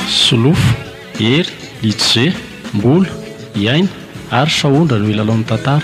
Solofo, hery, itsy ze, mbola, iaina ary sahondra no hilalaon'ny tantara.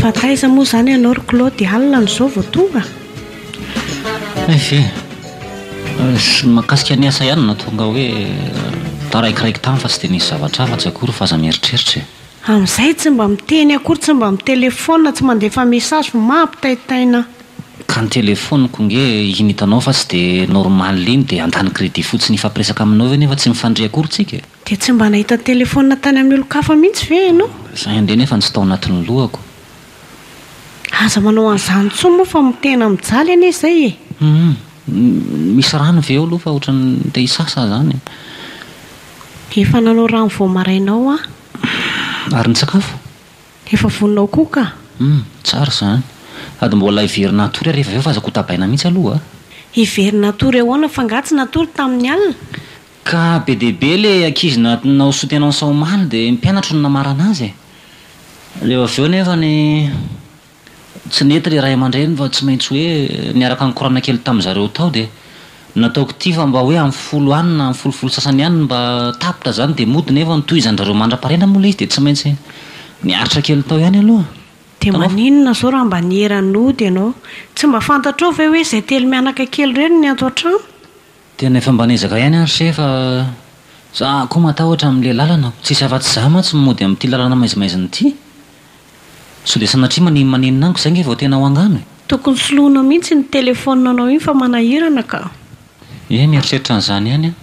Fa taiza moa izany ianao ry Claude alina no izao vao tonga? Ehe, mahakasika ny asa ihany no nahatonga hoe taraikiraiky tany fa tsy dia nisy zavatra hafa tsy akory f'aza mieritreritra e. Amin'izay tsy mba miteny akory, tsy mba mitelefaonina, tsy mandefa message, mampitaitaina. Ka ny telefoniko nge iny hitanao fa tsy de normal iny de handany credit fotsiny hifampiresaka aminao ve nefa tsy mifandre akory tsika e! Dia tsy mba nahita telefonina tany amin'ny olon-kafa mihitsy ve ianao? Sahy nge nefa tsy tao anatin'ny lohako. Aza manao an'izany intsony moa fa tena mijaly anie izay e! Humm. Misy rano ve eo aloha fa ohatran'ny te hisasa aho izany e! Efa nanao rano vao maraina ao aho. Ary ny sakafo? Efa vonona ho koa ka! Humm, tsara izany. Sady mbola hiverina hatory ary rehefa avy eo fa aza kotabaina mihitsy aloha a! Hiverina hatory ahoana fa nga tsy natory tamin'ny alina? Ka be dia be ilay ankizy natin'ny naoso tenany sao omaly dia mpianatro no namarana azy e! Rehefa avy eo nefany tsy nety ilay ray aman-dreny fa tsy maintsy hoe niaraka nikorana kely tamin'izareo tao dia. Nataoko ity fa mba hoe am folo any na am folo folo sasany any mba tapitra zany de mody nefa ny tohizan drareo mandrapahariana moa le izy de tsy maintsy miaritra kely tao ihany aloha. De maninona zao raha mba niera nody ianao? Tsy mba fantatrao ve hoe zay telo mianaka kely ireny ny ato an-trano? Tena efa mba niezaka ihany aho ry se fa za koa matahotra amin'le lalana, tsisy afatsy za mantsy no mody amin'ity lalana maizimaizin'ity. Sondia sanatria manin manin ango zay nge vao tena ho angano e! Tokony soloinao mihitsy iny téléphone nao iny fa manahirana ka. Ie mieritreritra an'izany ihany aho.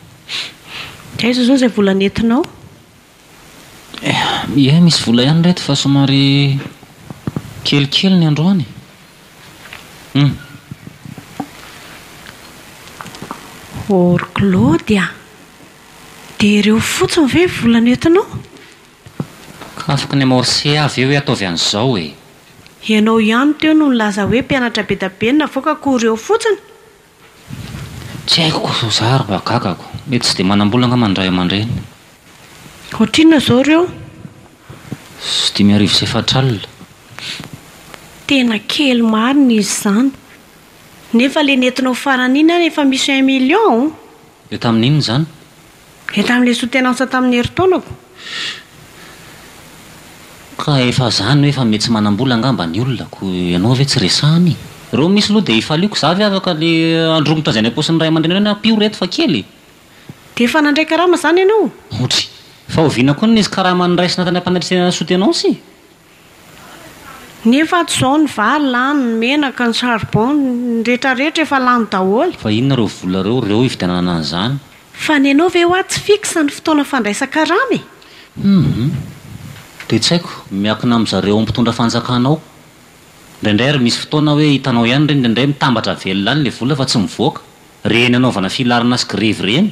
Dia aiza izao izay vola nentinao? Ie misy vola ihany reto fa somary kelikely ny androany e! Hum. Orklody a! Dia ireo fotsiny ve vola nentinao? Afaka ny amorcer avy eo hoe ataovy an'izao e! Ianao ihany teo no nilaza hoe mpianatra be da be ny navoaka ko reo fotsiny? Tsy haiko ko sao za ary mba gagako. Mety tsy dia manam-bola angamba ny ray aman-dreny. Ohatrinona izao ireo? Sy dimy arivo sy efatra alina. Tena kely marina izy izany. Nefa le nentinao farany iny ary efa misy un million? Dia tamin'inona izany? Dia tamin'ilay sotenansa tamin'ny herintaonako. Ka efa zany hoe fa metsy manambola angamba ny olona ko ianao ve tsy resahany? Reo misy loha dia ifaliako za ve afaka le andromotra zay any ampaosin'ny ray aman-drenareo ny ampio reto fa kely e! Dia efa nandray karama zany ianao? Otry! Fa oviana koa ny nisy karama niraisina tany am-panatrisena ny sotenansa e! Nefa ato izao ny vary lany, ny menaka, ny charbon, ny rehetra rehetra efa lany daholo. Fa inona ireo vola ireo, ireo hividianana an'izany? Fa ny anao ve hoa tsy fixe ny fotoana fandraisan-karama e? Humm. Dia tsy haiko, miakina amin'ny zareo ao mpitondra fanjakana ao. Indraindray ary misy fotoana hoe hitanao ihany ireny indraindray mitambatra velona any ilay vola fa tsy mivoaka, ireny hanaovana filarana sy grevy ireny.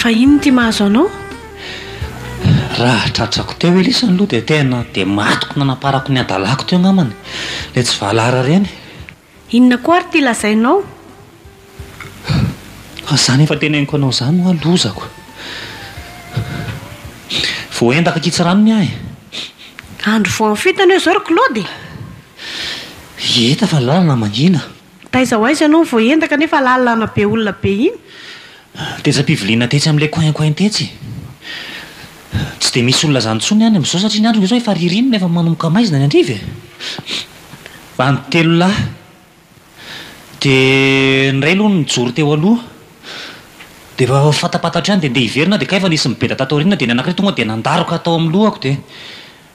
Fa inona ity mahazo anao? Raha tratrako teo Elisa ny loha dia tena dia matiko nanamparako ny hadalako teo angambany ilay tsy valahara ireny. Inona koa ary ity lazainao? Fa zany efa teneniko anao zany hoa lozako. Voaendaka kitsy ranony aho e. Andro voanfitana eo zao ry Claude e. Hita fa lalana mangina. Taiza ho aiza ianao no voaendaka nefa lalana be olona be iny? Tetsy am-piviliana tetsy amin'ilay coin coin tetsy. Tsy dia misy olona izany intsony any amin'izao satria ny andro ve izao efa ririnina efa manomboka maizina any an-driva e. Any telo lahy. Dia ny iray aloha nijoro teo aloha dia efa fatapatatra ihany dia ndeha hiverina dia kay efa nisy nibeda tato aoriana dia ny anankiray tonga dia nandaroka tao amin'ny lohako dia.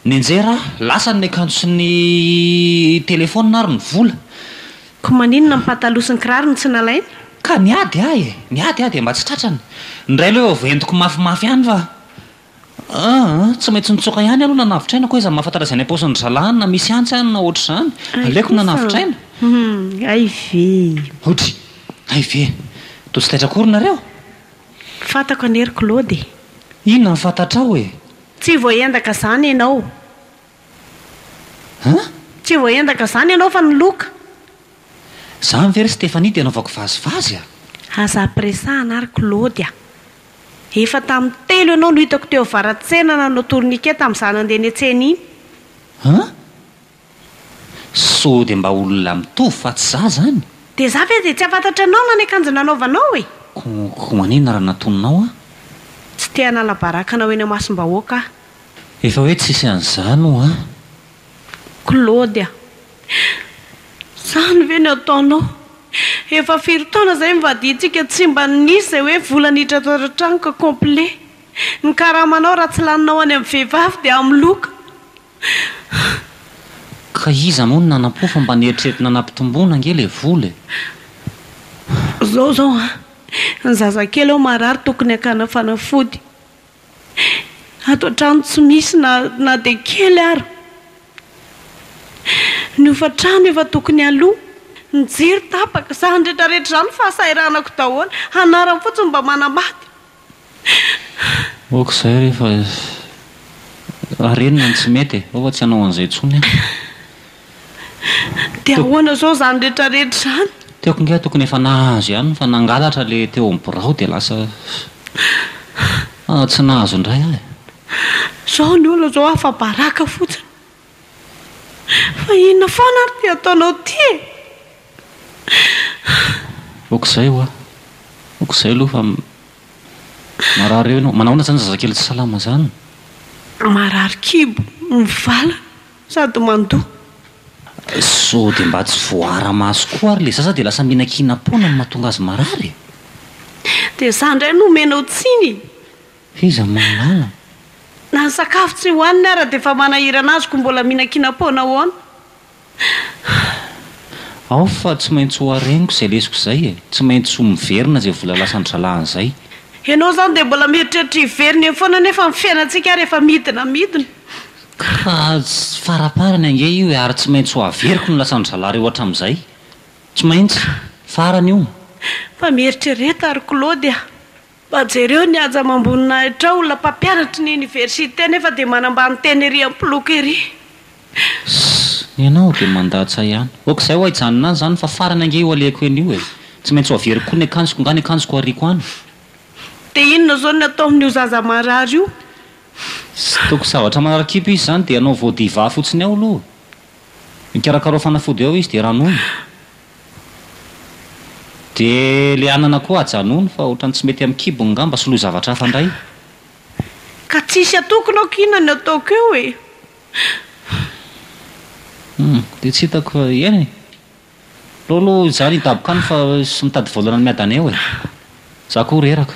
Nianjera aho, lasa ny akanjo sy ny telefaonina ary ny vola. Ko maninona ny pataloha sy ny kiraro no tsy nalaina? Ka niady aho e! Niady aho dia mba tsy tratrany. Indray aloha efa voentiko mafimafy ihany fa ah! Tsy maintsy nitsoaka ihany aloha nanavotraina, koa aiza no mahafantatra izay any am-paosin'ny zalahy na misy antsy any na ohatr'izany. Aleoko nanavotraina. Hay ve! Audrey, hay ve! Toa tsy taitra akory nareo? Fantako an'ery Claude e! Inona no fantatrao e! Tsy voaendaka zany ianao. An? Tsy voaendaka zany ianao fa ny loka. Zany ve ry Stéphanie dia anaovako vazivazy a? Aza ampiresahana ary Claude a! Efa tamin'ny telo ianao no hitako teo avaratsena nanao tourniquet tamin'izaho nandeha netsena iny. An? Sao dia mba olona mitovy fa tsy za zany? Dia za ve dia tsy hafantatra anao na ny akanjo nanaovanao e! Koa manina raha natoninao aho? Tsy te hanala baraka anao eny amasom-bahoaka aho. Efa hoe tsisy an'izany oa! Claude a! Izany ve no ataonao? Efa firy taona izay nivadiantsika tsy mba nisy izay hoe vola niditra ato an-trano ka complet. Ny karamanao raha tsy laninao any amin'ny vehivavy dia amin'ny loka. Ka iza moa no nanampo fa mba nieritreritina nampitomboina ange le vola e! Zao zao an! Ny zazakely ao marary tokony hakana fanafody. Ato an-trano tsy misy na na dia kely ary. Ny hofan-trano efa tokony alo. Ny jiro tapaka. Zany retraretra zany fahasahiranako daholo. Anarany fotsiny mba manambady. Ok zay rehefa arenina ny tsy mety e, ao fa tsy hanao an'izay intsony aho. De ahoana zao zany rehetra rehetra zany? Tiako nga tokony efa nahazo ihany fa nangalatra le teo amin'ny birao de lasa tsy nahazo indray aho e. Zao ny olona zao afa-baraka fotsiny. Fa inona foana ary ty ataonao ty e! Ok izay hoa, ok izay aloha fa marary eo ianao. Manahoana izany zazakely tsy salama izany? Marary kibo, mivala sady mandoa. Sao dia mba tsy voaara-maso koa ary ilay zaza dia lasa mihinan-kihinam-poana no mahatonga azy marary e! Dia izaho indray no omenao tsiny e! F'iza mahalala? Na ny sakafo tsy hohaniny ara dia efa manahirana azy ko mbola mihinan-kina poana ahoana? Ao fa tsy maintsy ho hareniko izay lesoko izay e! Tsy maintsy ho miverina izay vola lasan'ny zalahany izay. Ianao izany dia mbola mieritreritra hiverina eny foana nefa ny fiainantsika ary efa midina midina. Ka tsy faraparany ange io e! Ary tsy maintsy ho averiko ny lasan'ny zalahy reo hatramin'izay. Tsy maintsy. Farany io. Fa mieritrereta ry Claude a! Fa jereo ny haja amam-boninahitra ao, olona mpampianatry ny oniversite nefa dia manambany tena ery am-poloky ery. Sss. Ianao dia mandatsa ihany. Ok zay ho haijanona any zany fa farany ange io alehako eny io e. Tsy maintsy ho averiko koa ny akanjoko nga ny akanjoko ariako any. Dia inona zao ny atao amin'io zaza marary io? Tsy toko zavatra manarakipo izy zany dia anao voa diva fotsiny ao aloha. Ikarakarao fanafody ao izy dia ranoy. Dia le anana koa ajanony fa otrany tsy mety am kibony ngamba soloy zavatra hafa ndray. Ka tsisy atokona aho k'inona ny ataoko eo e! Humm dia tsy hitako fa iany e! Aleo aloha izaho ny hidaboka any fa sy mitady volana ny miadana eo e! Za koa reraka.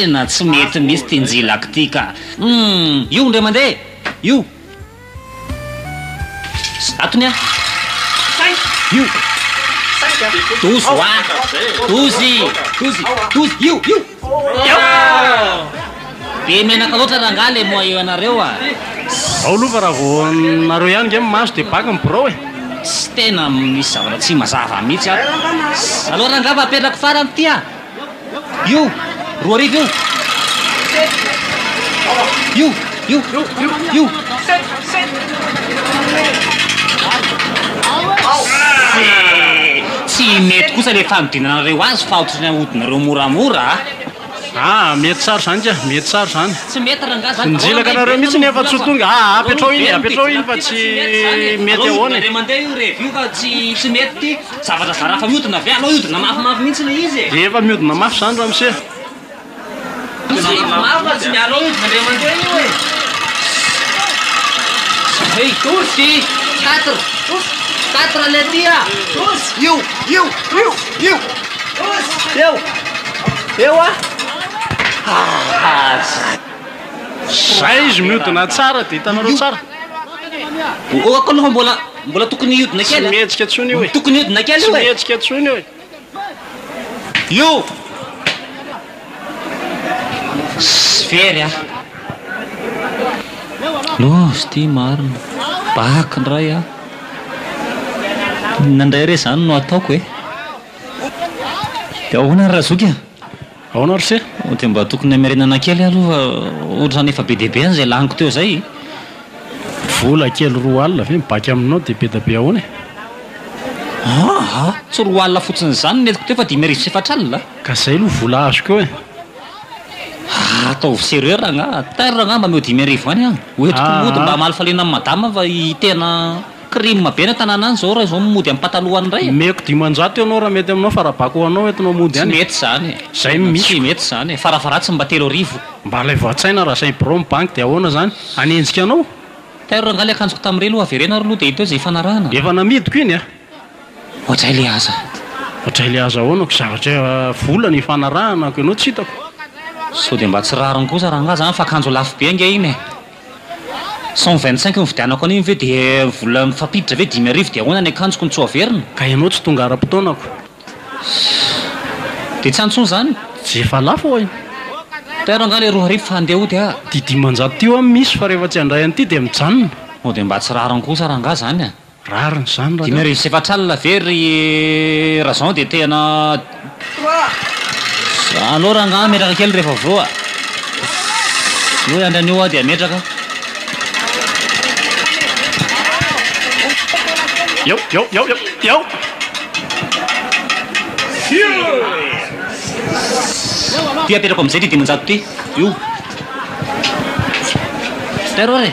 Tena tsy mety mihitsy ity njilako ity ka! Io indray mandeha! Io! Zato ny ahy. Io. Dozy ho ahy. Dozy. Dozy. Dozy. Io. Io. Be menaka loatra rangahy le moa eo anareo a. Ao lova raha vao nareo ihany nge maso de baka ny birao e. Tsy tena misy zavatra tsy mazava mihitsy ato. Aleo rangahy fa apetrako farany ity a. Io! Roa arivo io! Io! Io! Io! Tsy mety kosa le fanodinanareo azy fa otrany ahodinareo moramora a! Ah, mety tsara zany ka, mety tsara zany. Tsy mety rangah zany. Nijilaka anareo mihitsy nefa tsy ho tonga. Ah, apetraho iny, apetraho iny fa tsy mety ahoana e. Indray mandeha io revy io fa tsy mety. Zavatra zara fa miodina avy alou hiodina mafy mafy mintsy le izy e. De efa miodina mafy zany ramose. Miodina mafy mafy fa tsy mi alou hiodina andriamanitra io e. Hey tous ty quatre tous quatre le ty a. Tous io io io io tous eo eo a. Ah zay. Zay izy miodina tsara de hitanareo tsara. Ohako aloha mbola Mbola tokony hiodina kely a. Tsy mihetsika tsony io e. Tokony hiodina kely io e. Tsy mihetsika tsony io e. Io. Sy very a. Love ty marina. Back ndray a. Inona ndray re zany no ataoko e. De ahoana ry Razoky a. Ahoana ry se? Dia mba tokony hamerenana kely aloha fa ohatrany efa be dia be an'izay laniko teo izay e! Vola kely roa alina ve mibaky aminao dia be dia be ahoana e? Aa! Tsy roa alina fotsiny izany ny entiko teo fa dimy arivo sy efatra alina a! Ka izay aloha vola azoko eo e! Aa! Ataovy sérieux rangahy! Atairo rangahy mba ameo dimy arivo ihany an! Ho entiko mody mba hamaly faliana an'i madama fa i tena. Crime be any an-tanàna any zao raha izao mody amin'ny patalohan'ny iray e! Omeko dimanjato eo anao raha mety aminao fa raha bako ho anao entinao mody any e! Tsy mety izany e! Izay no misy ko! Tsy mety izany e! Faravaratsiny mba telo arivo! Mba alaivo an-tsaina raha izay birao mibanky dia ahoana izany? Hanenjika anao? Tairo rangahy ilay akanjoko tamin'irey aloha avereno ary aloha dia hita eo izay ifanarahana. Efa namidiko iny a! Oadray le aza. Oadray le aza ahoana ko zavatra vola no ifanarahana ko ianao tsy hitako. Sao dia mba tsy rariny kosa rangahy zany fa akanjo lafo be ange iny e! Cent vingt cinq nividianako an'iny ve dia vola mifampiditra ve dimy arivo dia ahoana ny akanjoko no tsy ho averina? Ka ianao tsy tonga ara-potoanako. Dia tsy any intsony izany? Tsy efa lafo oay. Tairo angaha le roa arivo fa handeha hody aho. Ty dimanjato ty hoa misy fa rehefa tsy handray an'ity dia mijanona. Sao dia mba tsy rariny kosa rangaha izany a! Rariny izany raha. Dimy harivo sy efatra alina ve ry Razan dia tena Za alou rangah metraka kely rehefa avy eo a. Alou hiandry anio aho dia ametraka. Eo eo eo eo eo. Ity apetrako amin'izay ity dimanjato ity. Io. Ster ory e.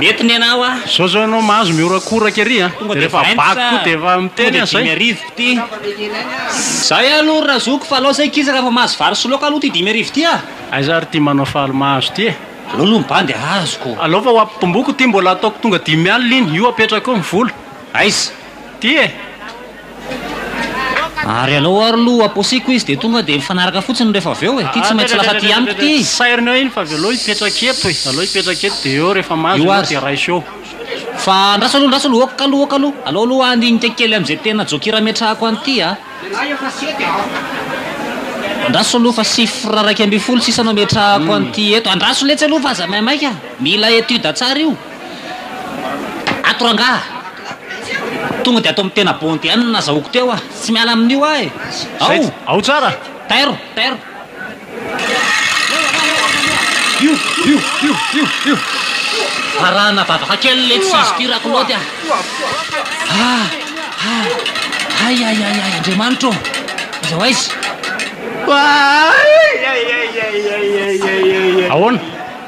Mety ny anao a! Zao zao ianao mahazo mihorakoraka ery a! Tonga dia vaky koa dia efa miteny aza e! Zay aloha ry razoky fa alao zay kisa rafa mahazo vary sy laoka aloha ty dimy arivo ty a! Aiza ary ty manao faly mahazo ty e! Alao aloha ny bandy azoko! Alao fa ho ampibomboko ty mbola ataoko tonga dimy alina iny! Io apetrako eo ny vola! Aiza? Ty e! Ary alou ary lo aposiko izy de tonga de mifanaraka fotsiny refa avy eo e, ty tsy maintsy lasa ty amiko ty izy. Sairiny eo iny fa avy eo alou hipetraka eto e, alou hipetraka eto de eo refa mahazo io de raiso eo. Fa andraso alou andraso alou ok alou ok alou, alou alou handinika kely amze tena jokira ametrahako an'ity a. Andraso alou fa chiffre iraika ambin'ny folo sisa no ametrahako an'ity eto, andraso letsy alou fa aza maimaika, mila etude tsara io. Ato rangaha! Tonga dia ato amin'ny tena bondy ihany no nazahoako teo ah! Tsy miala amin'io aho eh! Ao! Ao tsara! Tairo! Tairo! Io! Io! Io! Io! Io! Varahana vavaka kely ilay tsisy tia Rakilaoty ah! Ah! Ah! Ay! Ay! Ay! Ay! Andriamanitra ô! Aiza ho aiza? Ahoana?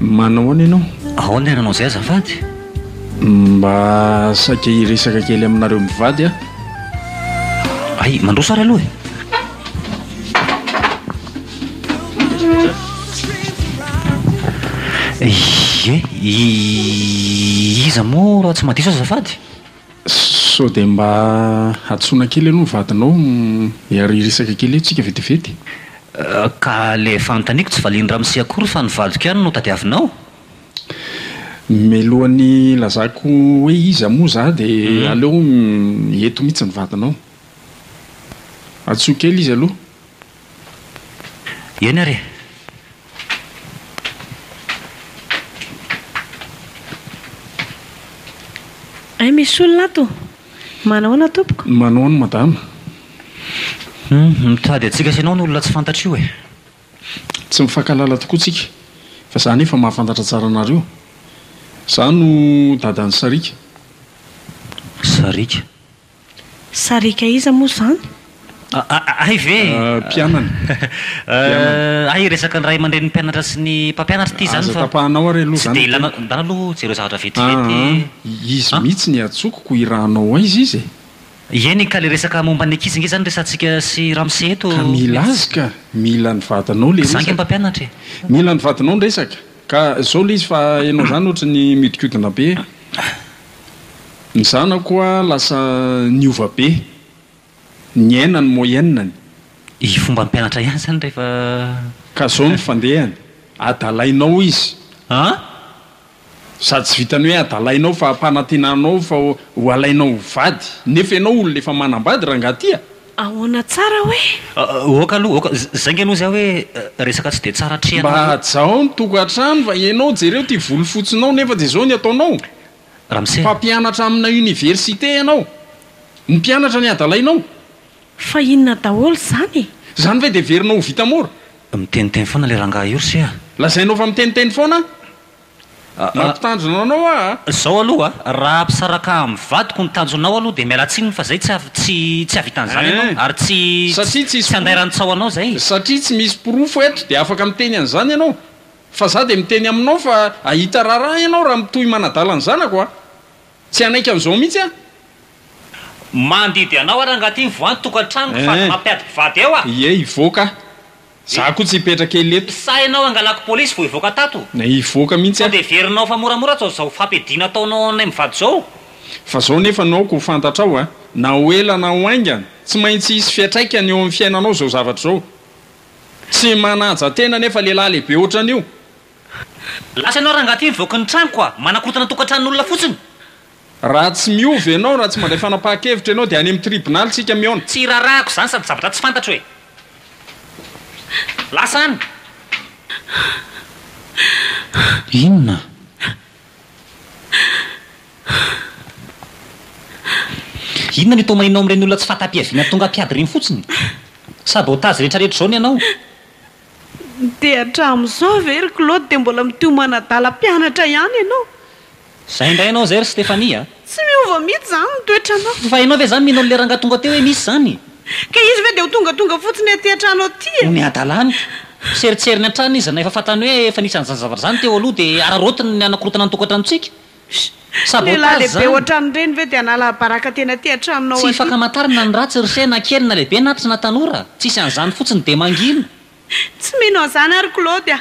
Manao ahoana ianao? Ahoana ny ananao izay azafady? Mba saika hiresaka kely aminareo mivady aho. Hay, mandroso ary aloha e! Ie, i iza moa raha tsy mahadiso aho azafady? Sao dia mba hadisoana kely aloha ny vadinao, ary hiresaka kely eo tsika vetivety e! Ka le efa anontaniko tsy valian'i ramose akory fa ny vadiko ihany no tadiavinao? Mialohan'ny hilazako hoe iza moa za dia aleo eto mihitsy ny vadinao. Antsoy kely izy aloha. Eny ary e! Hay misy olona ato! Manahoana tompoko? Manao ny madama. Humm, mitady antsika sy ianao ny olona tsy fantatra io e! Tsy mifankahalala tokoa tsika fa za anefa mahafantatra tsara anareo. Za no dadan'i Sariaka. Sariaka? Sariaka iza moa izany? Hay ve e! Mpianany. Mpianany. Hay resaka ny ray aman-drenin'ny mpianatra sy ny mpampianatra ity izany fa. Aza tapahanao ary aloha izany. Tsy dia ilana, ndao aloha jereo zavatra vetivety. Aa, izy mihitsy ny atsoko ko irahanao aiza izy e? Ieny ka le resaka momba ny ankizy nge izany resatsika sy ramose eto. Ka mila azy ka, mila ny vadinao le resaka. Za nge mpampianatra e. Mila ny vadinao ny resaka. Ka zao le izy fa ianao izany ohatry ny miodikodina be e. Ny zanako hoa lasa niova be. Niaina ny moyenne-ny. I fomba hampianatra ihany zany rehefa. Ka zao ny fandehany. Adalainao hoy izy. An? Za tsy vitan'ny hoe adalainao fa ampanantenanao fa ho alainao ho vady. Nefa ianao olona efa manambady rangahy ty a! Ahoana tsara hoe? Oka aloha oka, zay nge aloha zay hoe resaka tsy de tsara atrehana aloha. Mba hajao ny tokantrano fa ianao jereo ity volo fotsinao nefa de zao ny ataonao? Ramose a! Mpampianatra amina université ianao, ny mpianatra ny adalainao? Fa inona daholo zany e? Zany ve de heverinao ho vita mora? Miteniteny foana le rangahy io rse a! Lazainao fa miteniteny foana? Mampitandrina anao aho a! Zao aloha a! Raha ampisaraka amin'ny vadiko ny tanjonao aloha dia miala tsiny fa zay tsy tsy havitan'izany ianao ary tsy satria tsy tsy andairan-tsaho anao zay e! Satria tsy misy porofo eto dia afaka miteny an'izany ianao fa za dia miteny aminao fa ahita raharaha ianao raha mitohy manadala ny zanako a! Tsy hanaiky an'izao mihitsy aho. Mandidy anao ary angaha ty ny voan-tokantranoko fa aza mampiady mpivady eo a! Ie hivoaka aho! Za koa tsy hipetraka ela eto. Sa enao angalako police vo hivoaka tato? Na hivoaka mintsy aho. Sao de heverinao fa moramora atao zao fampiadiana ataonao ao anay mivady zao? Fa zao nefa no aoka ho fantatrao a, na ho ela na ho haingana, tsy maintsy hisy fiatraikany eo amin'ny fiainanao zao zavatra zao. Tsy manaja tena nefa lehilahy lehibe otran'io. Lasa enao rangahy ty mivoaka ny tranoko a, manakotana tokantranon'olona fotsiny. Raha tsy miova ianao, raha tsy mandray fanapahan-kevitra ianao dia any amin'ny tribonaly isika mihaona. Tsy iraharahako izany sady zavatra tsy fantatro e! Lasa any! Inona? Inona no itomahinao amin'ireny olona tsy fahatapiaviana tonga mpiady ireny fotsiny? Sabotazy rehetrarehetra izao ny anao? Dia hatramin'izao ve ry Claude dia mbola mitohy manadala mpianatra ihany ianao? Izay indray ianao izay ry Stéphanie a! Tsy miova mihitsy izany ny toetranao. Tsy vahinao ve izany mino an'ilay rangahy tonga teo hoe misy izany? Ka izy ve dia ho tongatonga fotsiny aty an-trano aty e? Omeo hadalany. Serintseriny hatrany izy raha efa fantany hoe efa nisy an'izany zavatra izany teo aloha dia araraotiny ny hanakorontana ny tokantranontsika. Lehilahy lehibe ohatran'ireny ve dia hanala baraka teny aty an-tranonao aty? Tsy fakamantarana ny ratsy ry se na kely na lehibe na tsy na tanora. Tsisy an'izany fotsiny dia mangina. Tsy mino an'izany ary Claude a!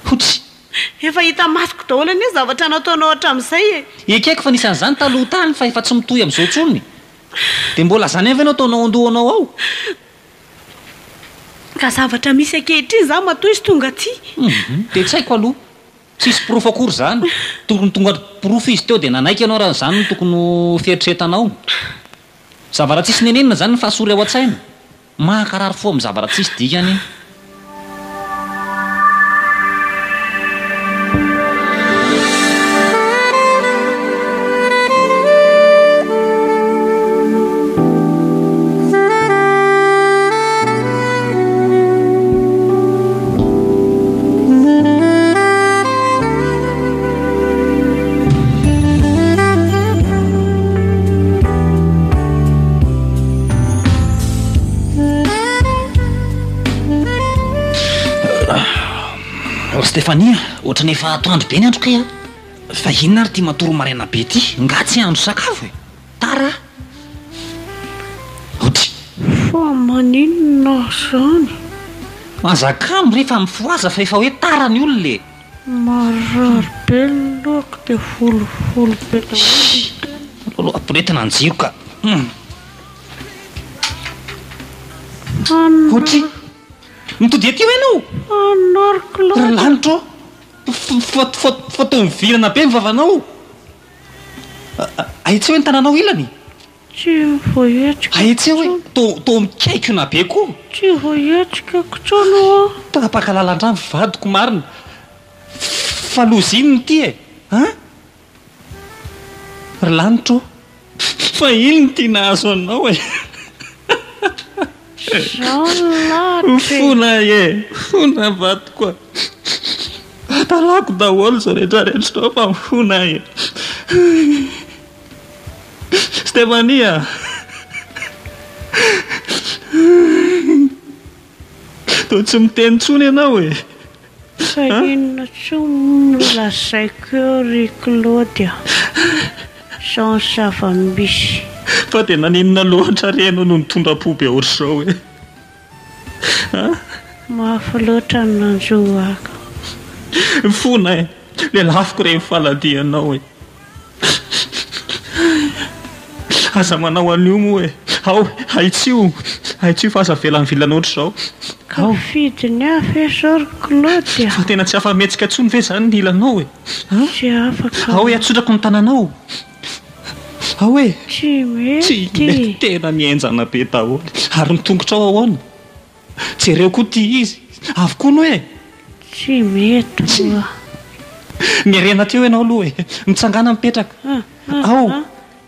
Hotry. Efa hita masoko daholo anie ny zavatra nataonao hatramin'izay e! Ekeko fa nisy an'izany taloha tany fa efa tsy mitohy amin'izao intsony. Dia mbola izany ihany ve no ataonao an-dohanao ao? Ka zavatra misy ankehitriny izany matoa izy tonga aty. Humm, dia tsy haiko aloha. Tsisy porofo akory izany. Tokony tonga porofo izy teo dia nanaiky ianao raha izany no tokony ho fieritreretanao. Zavaratsisy nenenina izany ny fahasory ao an-tsaina. Mankarary fo amin'ny zavaratsisy dikany. Stefania, ohatrany efa atoandro be ny andro kay an! Fa inona ary ity matory maraina be ity? Nga tsy andro sakafo e! Tara ody. Fa maninona zany? Manjakamy re fa mifohaza fa efa hoe tara ny olona e! Marary be ny lohako dia volovoly be daholo ny tenako. Aleo ampirehetina ny jiro ka! Ody, mitody aty hoy ianao? Anariko loatra. Ry lanitra ô! Fa toa mivilana be ny vavanao. Ahitseo hoe ny tananao ilany e! Tsy voahetsika Ahitseo hoe intsony. to to mikaikona be koa! Tsy voahetsika intsony oa. Tapaka lalan-drano vadiko marina fa loza iny ny ity e! An! Ry lanitra ô! Fa iny ny ity nahazo anao e! Jean lalitra e! Fona e! Fona vadiko a! Adalako daholo izao rehetra rehetra izao fa mifona e! Stéphanie a! Toa tsy miteny intsony ianao e! Fa inona tsoa moa no lazaiko eo ry Claude a! Izao ny zava-misy. Fa dia naninona loatra re ianao no nitondra po be ohatr'izao e? A! Mafy loatra ny nanjo ahy ka. Fona e! Lelafiko re ny faladianao e! Aza manao an'io moa e! Ao, ahitsio! Ahitsio fa aza avela mivilana ohatr'izao. Tafiditra ny hafa e! Sao ry Claude a! Fa tena tsy afa-mihetsika intsony ve izany ny ilanao e? Tsy afaka aho. Ao e, atsodrako ny tananao! Ao e! Tsy mety! Tsy mety! Tena ny henjana be daholo! Ary ny tongotrao ahoana? Jereo koa ity izy avy koa no e! Tsy mety oa! Miarena teo ianao aloha e! Mitsangàna mipetraka! Ao!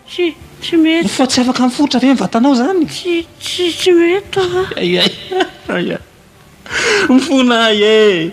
Tsy, tsy mety! Mifoha tsy afaka mifotra ve ny vatanao izany? Tsy, tsy, tsy mety oa! Ay, ay, ay, ay! Mifona ay e!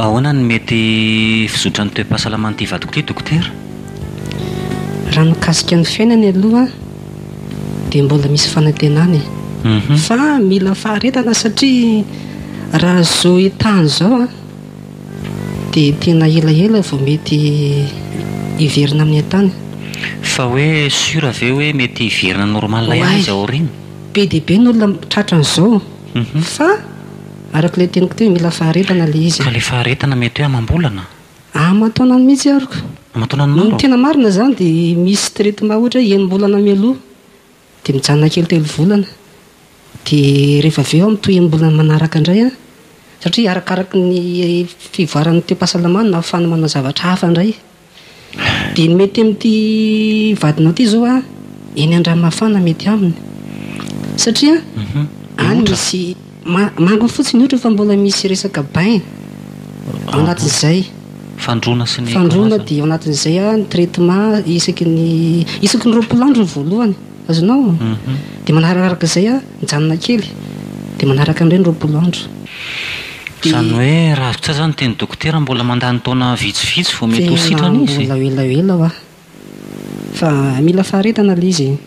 Ahoana no mety fizotran'ny toe-pahasalaman'ity vadiko ity dokotera? Raha ny mikasika ny fiainany aloha dia mbola misy fanantenana e. Mhm. Fa mila faharetana satria raha izao etaha izao an, Dia tena elaela vao mety hiverina amin'ny an-tany? Fa hoe sûr ve hoe mety hiverina normal ihany izy ao aoriana? Be dia be ny olona tratra an'izao fa araka ilay teniko teo mila faharetana ilay izy. Ka ilay faharetana mety hoe amam-bolana? Aman-taonany mihitsy ary ka. Aman-taonany maro? Ny tena marina izany dia misy traitement ohatra hoe enim-bolana mialoha. Dia mijanona kely telo volana. Dia rehefa avy eo aho mitohy amin'ny volana manaraka indray an! Satria arakaraky ny fivoaran'ny toe-pahasalamana no ahafahana manao zavatra hafa indray. Dia ny mety amin'ity vadinao ity izao an, eny Andramafana mety aminy. Satria any misy. Manga fotsiny ohatra fa mbola misy resaka bain ao anatin'izay. Fandroana sy ny karazany. Fandroana dia ao anatin'izay ny traitement isaky ny isaky ny roapolo andro ny voalohany. Azonao? Mhm. Dia manarakaraka izay mijanona kely. Dia manaraka indray ny roapolo andro. Dia. Izany hoe raha vitsy aza ny tian'ny dokotera mbola mandany taona vitsivitsy vao mety ho sitrana izy? Mbola elaela hoa. Fa mila faharetana ilay izy e.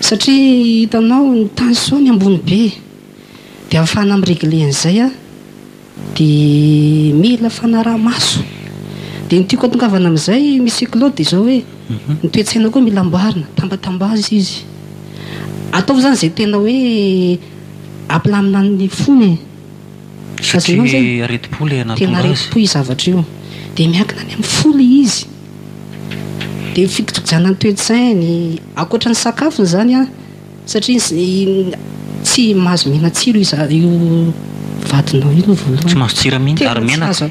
Satria hitanao ny tension ny ambony be e. Dia ahafahana mi-regler an'izay an, dia mila fanaraha-maso. Dia ny tiako atongavana amin'izay Monsieur Claude dia izao hoe, ny toe-tsaina koa mila amboarina, tambatambazy izy. Ataovy izany izay tena hoe ampilamina ny fony e. Fa tsy aretim-po ilay nahatonga azy. Tena aretim-po io zavatra io. Dia miankina any amin'ny fo ilay izy. Dia fikotojanan'ny toe-tsainy. Ankoatra ny sakafony izany an, satria tsy mahazo mihinan-tsiro io vadinao io aloha voalohany. Tsy mahazo tsira mihitsy, ary menaka.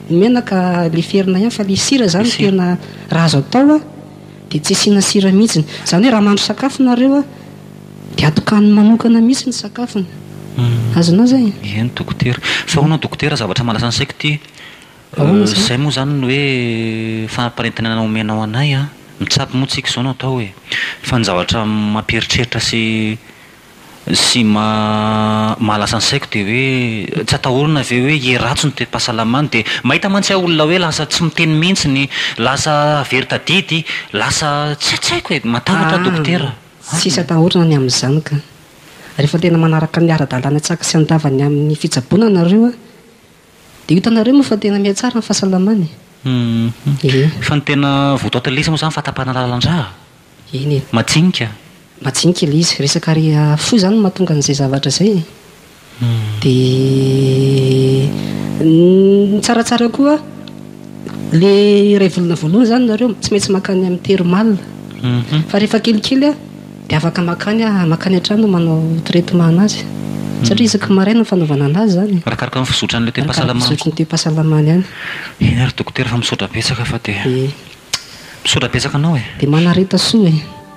Ny menaka leferina ihany fa ilay sira izany tena raha azo atao dia tsy asiana sira mihitsy. Izany hoe raha mahandro sakafo nareo an. Dia atokany manokana mihitsy ny sakafony. Azonao izay? Eny dokotera. Fa hono dokotera zavatra malaza ny saiko ty. Izay moa izany ny hoe fanaparentenana omenao anay an. Mitsabo moa tsika izao no atao e. Fa ny zavatra mampieritreritra sy sy mahalasa ny saiko dia hoe tsy atahorana ve hoe hiheratsy ny toe-pahasalamany dia mahita mantsy aho olona hoe lasa tsy miteny mihitsy, lasa very tadidy, lasa tsy tsy haiko e. Matahotra aho dokotera. Tsisy atahorana ny amin'izany ka. Rehefa tena manaraka ny ara-dalàna tsy haka sy handava ny amin'ny fitsaboana nareo a, dia ho hitanareo moa fa tena mihatsara ny fahasalamana e. Eny. Fa ny tena votoatin'ilay izy moa izany fahatapahana lalandrà. Eny e. Majinika. Majinika ilay izy. Resaka ary fohy izany no mahatonga an'izay zavatra izay e. Dia ny tsaratsara koa le iray volana voalohany zany nareo tsy maintsy makany amin'ny thermal fa rehefa kelikely dia afaka makany makany an-trano manao traitement anazy satria isaky ny maraina ny fanaovana anazy zany e. Arakaraka ny fizotran'ilay toe-pahasalamany. Arakaraka ny fizotry ny toe-pahasalamany any. Eny ary dokotera fa misaotra betsaka fa dia. Misaotra betsaka anao e. Dia manareta soa e.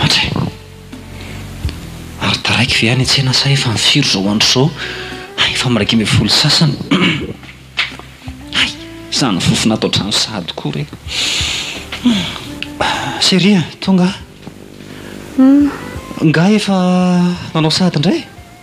Hatry! Ary taraiky ve any an-tsena sa efa firy izao andro izao? Hay efa miraika ambin'ny folo sy sasany. Hay! Izany fofona ato an-trano sahady koa re. Chérie a! Tonga a! Nga efa nanao sahady indray?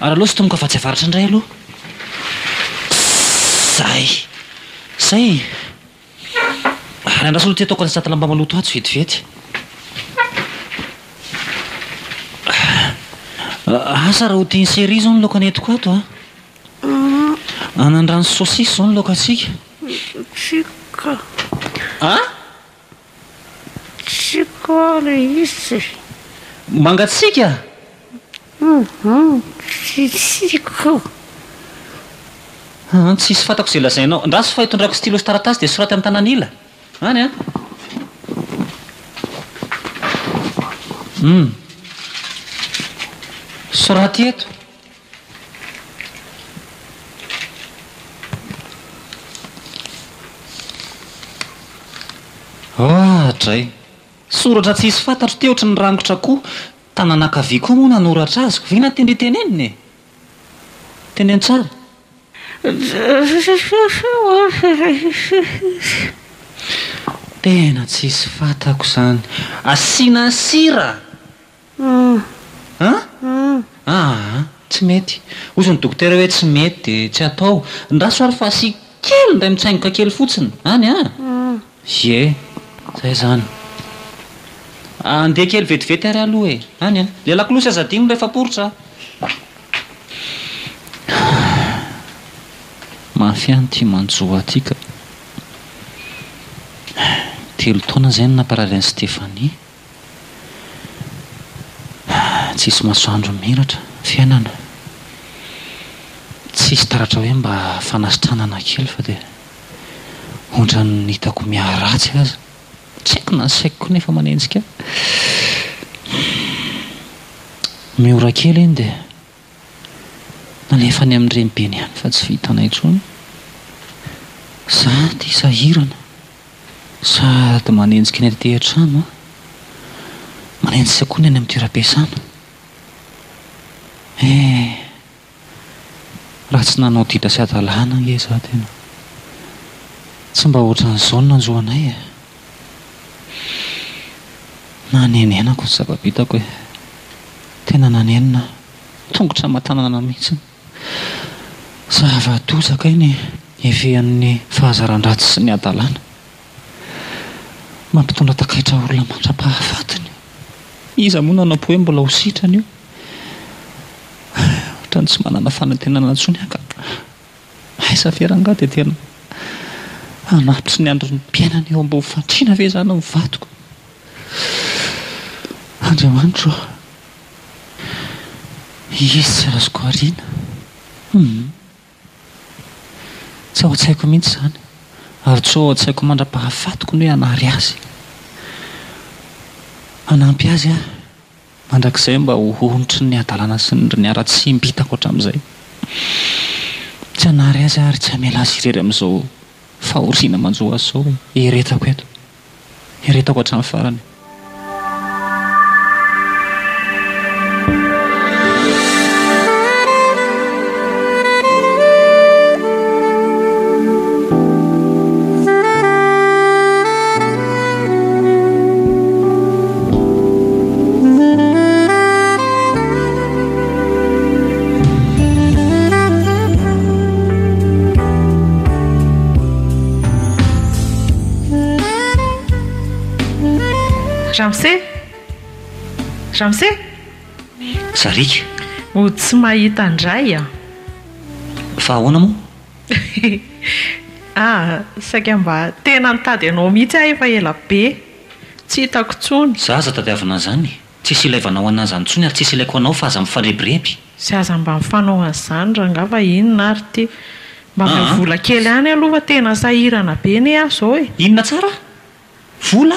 Ary aleo sintomiko afatsy avaratra indray aloha. Zay. Zay e. Ary andraso aloha ity ataoko an'izay satala mba maloto atsy vetivety. Asa raha ho tian'i Cherie izao ny laoka nentiko ato an. Anandrano sy saosisy izao ny laokantsika. Tsika. An? Tsy ko le izy. Mangatsiaka? Hum Tsy ko. Hum Tsisy fantako izay lazainao. Andraso fa itondrako stylo sy taratasy dia soraty amin'ny tanan'ila. Any an. Hum Soraty eto. Ah dray! Soratra tsisy fantatro ty ohatry ny rangotra koa, tanana ankavia koa moa nanoratra azy, ve na tendry tenenina e! Teneno tsara. Tena tsisy fantako izany. Asiana sira! An? Aa! Tsy mety. Hoy izao ny dokotera hoe tsy mety dia tsy atao. Andraso ary fa asiako kely indray mitsaingoka kely fotsiny any an! Ie! Izay izany. Andeha kely vetivety ary aloha e! Any an! Ilay lakolosy aza adino rehefa poritra an! Mafy an ity manjoa ity ka! Telo taona izay no namparary an'i Stéphanie. Tsisy masoandro miratra fiainana, tsisy taratra hoe mba fanasitranana kely fa dia ohatran'ny hitako miharatsy aza, tsy haiko na ny saiko koa nefa manenjika ahy. Miora kely iny dia Alefa any amin'ny renibeny any fa tsy vitanay intsony. Za ity sahirana sady manenjika ny aty an-trano an! Manenjika koa ny any amin'ny toeram-piasana. Eh! Raha tsy nanao ditra sy hadalana ange za tena. Tsy mba ohatran'izao ny nanjo anay e! Nanenenako ny zava-bitako e! Tena nanenina aho, tongotra aman-tanana mihitsy. Zava-doza kay ny hifehin'ny fahazaran-dratsy sy ny hadalana. Mampitondra takaitra olona mandra-pahafatiny. Iza moa no hanampo hoe mbola ho sitrana io? Ohatran'ny tsy manana fanantenana intsony aho ka. Aiza ve rangah dia tena hanatitry ny andron'ny mpiainana eo ambony fandriana ve izany ny vadiko? Andriamanitro ô! Izy tsy azoko ariana. Humm. Tsy ao an-tsaiko mihitsy izany ary tsy ho ao an-tsaiko mandra-pahafatiko ny hoe hanary azy. Hanampy azy aho. Mandrakizay mba ho hontry ny hadalana sy ny haratsiam bitako hatramin'izay. Tsy hanary azy aho ary tsy hamela azy irery amin'izao fahoriana manjo azy izao e! Eretako eto. Eretako hatramin'ny farany. Ramose? Ramose? Sariaka. Oh, tsy mahita an-dRay an! Fa ahoana moa? Ah, saika mba tena nitady anao mihitsy aho efa ela be tsy hitako intsony. Za aza tadiavina an'izany e! Tsisy ilaivanao an'ahy izany intsony ary tsisy ilaiko anao fa aza mifarebireby. Tsy aza mba mifanao an'izany rangaha fa inona ary ity? Mba omeo vola kely ihany aloha fa tena sahirana be anie aho izao e! Inona tsara? Vola?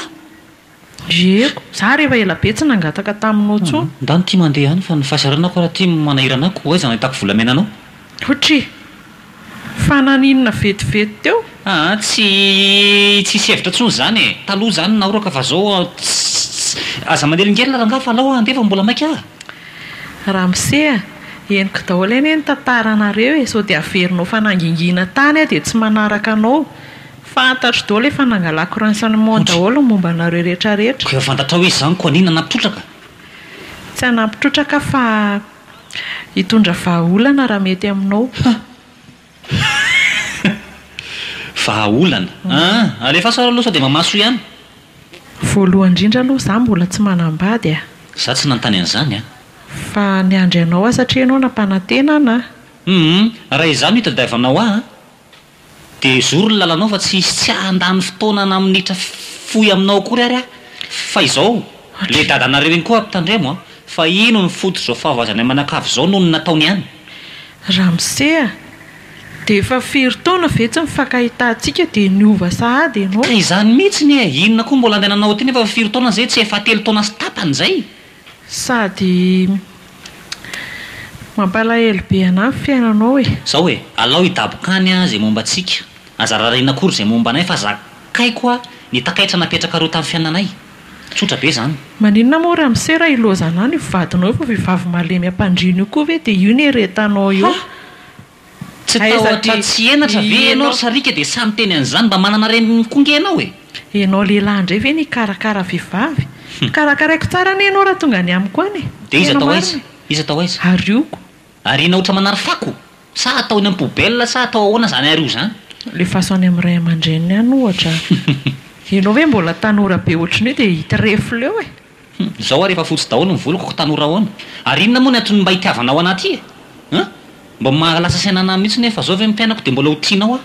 Diego, za ary efa ela be tsy nangataka taminao tsony. Ndà no tia mandeha any fa ny fahasahiranako ary tia manahira anà koa aiza no ahitako volamena anao? Hotry! Fa naninona vetivety teo? Aa tsy tsisy hevitra tsony zany e! Taloha zany naoraka fa zao tsss aza manelingelina rangah fa alao handeha fa mbola maika ah! Ramose a! Henoko daholo anie ny tantaranareo e! Sao dia averinao fanangingina tany aho dia tsy manaraka anao. Fantatro daholo efa nangalako ransan'ny Mon daholo ny momba anareo rehetra rehetra. Koa efa fantatrao izy izany koa anina nampitrotraka? Tsy hanampitrotraka fa hitondra vahaolana raha mety aminao. Vahaolana? Aa! Alefaso ary aloha sao dia mamaso ihany. Voalohany indrindra aloha izaho mbola tsy manambady a! Izaho tsy nanontany an'izany a! Fa niandry anao aho satria ianao nampanantena an a! Hum! Raha izaho no hitadiavanao ahy a! Dia ezory ny lalanao fa tsy hisy tsy handany fotoana na minitra fohy aminao akory ary aho. Fa izao, ilay dadanareo iny koa ampitandremo an! Fa ino no fototr'izao fahavoazanay manakavy izao noho ny nataony any? Ramose a! Dia efa firy taona ve tsy nifankahitantsika dia niova sahady ianao? Ka izany mihitsy anie! Inona koa mbola andehananao aty nefa efa firy taona izay? Tsy efa telo taona sy tapany izay? Sady mampalahelo be anah ny fiainanao e. Zao e, alao hidaboka any ah ze momba antsika, aza rarina akory ze momba anay fa zakaiko ah ny takaitra napetrakareo tam fiainanay. Tsotra be zany. Maninona moa ramose raha ilozanao ny vadinao io fa vehivavy malemy ampandriana io koa ve dia io ny eretanao eo. Tsy tahotra tsy henatra ve ianao ry sariaka dia samy miteny an'izany? Mba manana reniny koa ange ianao e! Ianao lehilahy indray ve no hikarakara vehivavy? Karakaraiko tsara anie ianao raha tonga any amiko any e! Dia iza tao aiza? Iza tao aiza? Arioko. Ariana ohatran'ny manary fako? Sa atao eny amin'ny poubelle sa atao ahoana izany ario izany? Lefaso any amin'ny ray aman-dreniny any ohatra. Ianao ve mbola tanora be ohatran'io dia hitrefy leo e! Hum, izao ary efa fotsy daholo ny voloko ko tanora ahoana? Ary inona moa ny antony mba itiavanao anah ty e? Hein? Mba maha lasa saina anah mihitsy nefa zao ve mpianako dia mbola ho tianao aho?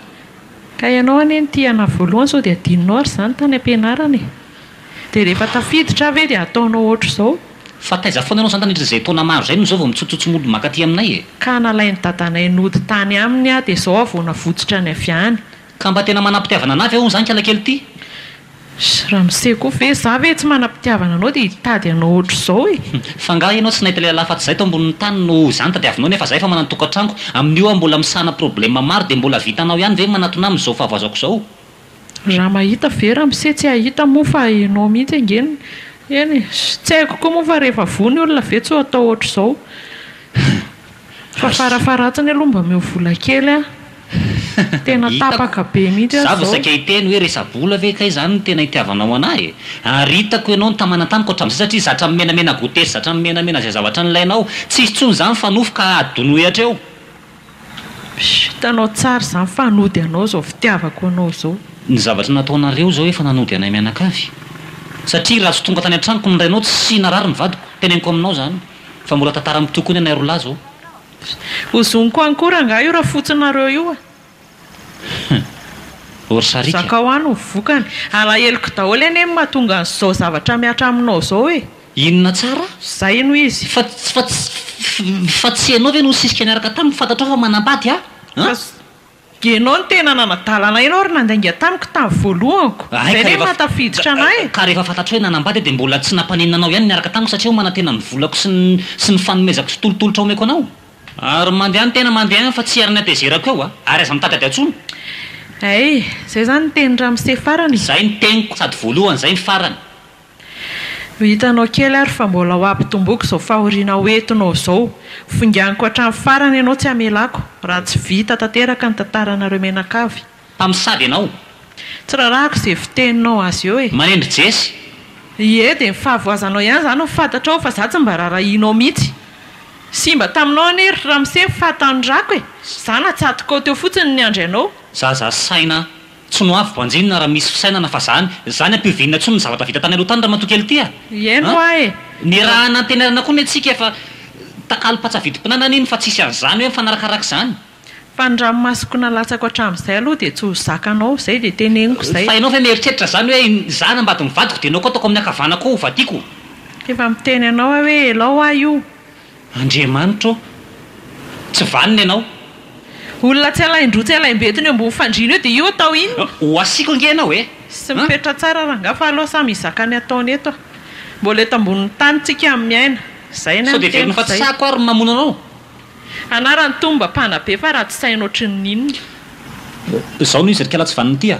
Ka ianao anie no tia anah voalohany sao dia adinonao ary izany tany ampianarana e! Dia rehefa tafiditra aho ve dia hataonao ohatr'izao? Fa taiza foana ianao izany tandritr'izay taona maro izay no izao vao mitsotsotso mody mankaty aminay e? Ka nalain'i dadanay nody tany aminy aho dia izao aho vao navotsotra ny avy any. Ka mba tena manam-pitiavana anah ve hono zany kialakely ity? Sy ramose koa ve? Za ve tsy manam-pitiavana anao dia hitady anao ohatr'izao e! Hum, fa angaha ianao tsy nahita lehilahy afa-tsy zay tao ambonin'ny tany no izany tadiavinao nefa zay efa manana tokantranoko, amin'io aho mbola misahana problème maro dia mbola vitanao ihany ve ny manatona ahy amin'izao fahavoazako izao? Raha mahita ve ramose tsy hahita moa fa ianao mihitsy ange no eny e! Tsy haiko koa moa fa rehefa voa ny olona ve tsy ho atao ohatr'izao? Fa farafaharatsiny aloha mba omeo vola kely an! Tena tapaka be mihitsy aho zao. Za vao saika hiteny hoe resa-bola ve kay zany no tena itiavanao anah e? Ary hitako ianao nitamana tamiko hatramin'izay satria zatra mimenamena goûter sy zatra mimenamena izay zavatra nilainao. Tsy hisy intsony zany fa nofy ka adonoy hatreo. Hitanao tsara izany fa hanody anao izao fitiavako anao izao. Ny zavatra nataonareo izao efa nanody anay mianakavy. Satria raha tsy tonga tany an-tranoko ny rainao tsy narary ny vadiko. Teneniko aminao izany fa mbola tantara mitohy koa ny anay roa lahy izao. Ho zoniko any koa rangahy io rafotsinareo io a! Hum! Or ça rica. Zakao any ny vokany. Alaheloko daholo anie ny mahatonga an'izao zavatra mihatra aminao izao e! Inona tsara? Zay no izy. Fa, fa, fa tsy ianao ve no nisisika niaraka taminy, fantatrao fa manambady aho an? Dia ianao no tena nanadala anay ianao ry nandainga tamiko tamin'ny voalohako. Hay Izay ka ve rehefa, mahatafiditra anay e. ka rehefa fantatrao hoe nanambady aho dia mbola tsy nampaninona anao ihany ny niaraka tamiko satria aho manantena ny volako sy ny, sy ny fanomezako sy tolotolotra omeko anao. Ary mandeha ny tena mandeha any fa tsy ary ny hatezerako eo a! Ary aza mitady ady atsony. Hay, izay izany ny tenin'i ramose farany e. Izay ny teniko sady voalohany izay ny farany. Ho hitanao kely ary fa mbola ho ampitomboiko izao fahoriana ho entinao izao. Foinganiko hatramin'ny farany ianao tsy hamelako, raha tsy vita tanteraka ny tantaranareo mianakavy. Mpamosavy ianao. Tsy rarahako izay fiteninao azy eo e! Manendry Jess. Ie, dia ny fahavoazanao ihany izany no fantatrao fa izaho tsy mba rarahianao mihitsy. Simba taminao anie ry ramose ny faha-tanorako e! Izaho natsatokao teo fotsiny niandry anao. Zaza saina. Tsy no avy banjinina raha misy fisainana fa zany, zany ampihovinina tsony ny zavatra vita tany aloha tany ramatoa kely ty a! Ihaino hoa e! Nirahana antenaina koa ny antsika efa takalo patsa vidim-pinana anie ny fa tsisy an'izany hoe mifanarakaraka izany. Fa ny ranomasoko nalatsako hatramin'izay aloha dia tsy ho zakanao, izay dia teneniko izay. Fa ianao ve mieritreritra izany hoe izaho nambadin'ny vadiko dia ianao koa ataoko amin'ny ankavanako ao hovadiako? Efa miteny anao aho hoe elao hoa io, Andriamanitra ô! Tsy vanona ianao. Olona tsy alain-droa tsy alaim-betona eo ambony fandriana eo dia io atao inona? Ho asiako ange ianao e! Tsy mipetra tsara rangah fa aleo samy hizaka ny ataony eto a! Mbola eto ambonin'ny tany tsika miaina. Zay ny an'ny teniko zay. Sao dia velona fa tsy sahiko ary ny mamono anao? Anarany Tomba mpanabe fa ratsy saina ohatrin'ny inona. Zao no izy ry kala tsy vanona ity a!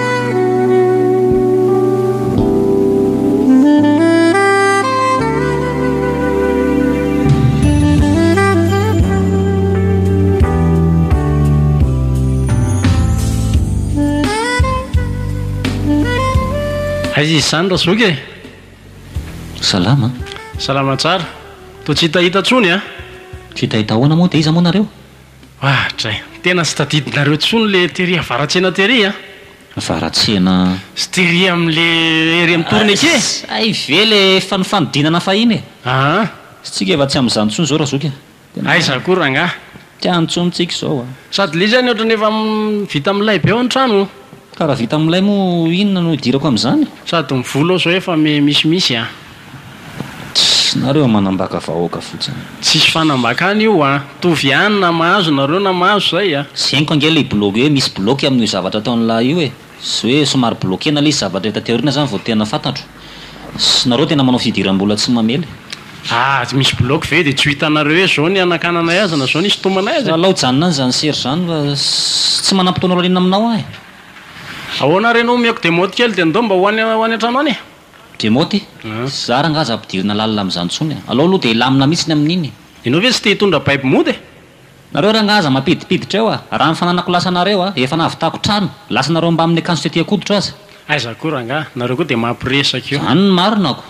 Aiza izy izany Razoky e? Salama. Salama tsara. Toa tsy hitahita intsony an! Tsy hitahita ahoana moa dia iza moa nareo? Ah dray. Tena tsy tadidinareo tsony le tery avaratsena tery a. Avaratsena. Sy tery am le ery am tourne eke. Zay ve le efa nifanodinana fahiny e. Aa. Tsika efa tsy am zany tsony zao ra zoky a. Tena. Aiza ko rangah. Tsy any tsony tsika zao a. Sady le izy any otrany efa vita milay be ao ny trano. Ka ra vita milay mo inona no idirako am zany. Sady ny vola ao zao efa misimisy a. Tss nareo manambaka vahoaka fotsiny. Tsisy fanambakana io a! Mitovy ihany na mahazo nareo na mahazo zay a! Zeniko ange ilay blogue hoe misy bloque amin'io zavatra ataon'lah io e! Sy hoe somary bloquena ilay izy zavatra hita teo aoriana zany vao tena fantatro. Sy nareo tena manao fidiram-bola tsy mamely e! Ah! Tsy misy bloque ve dia tsy ho hitanareo hoe zao ny hanakananay azy na zao ny hisintomanay azy e! Alao hijanona any zany sery zany fa tsy manampy taona aoriana aminao aho e! Ahoana ary ianao omeko demode kely dia ndao mba ho any ho any an-trano any e! Diemote e! Zara angaha aza ampidirina lalina amin'izany intsony e! Alao aloha dia hilamina mihitsy ny amin'iny e! Ianao ve tsy te hitondra baby mody e! Nareo rangahy aza mampidipiditra eo a! Raha ny fananako lasa anareo a! Efa nahavitako trano! Lasa anareo mbamin'ny akanjo tety an-koditro aza! Aiza koa rangahy! Nareo koa dia mampiresaka io! Izany ny marina ako!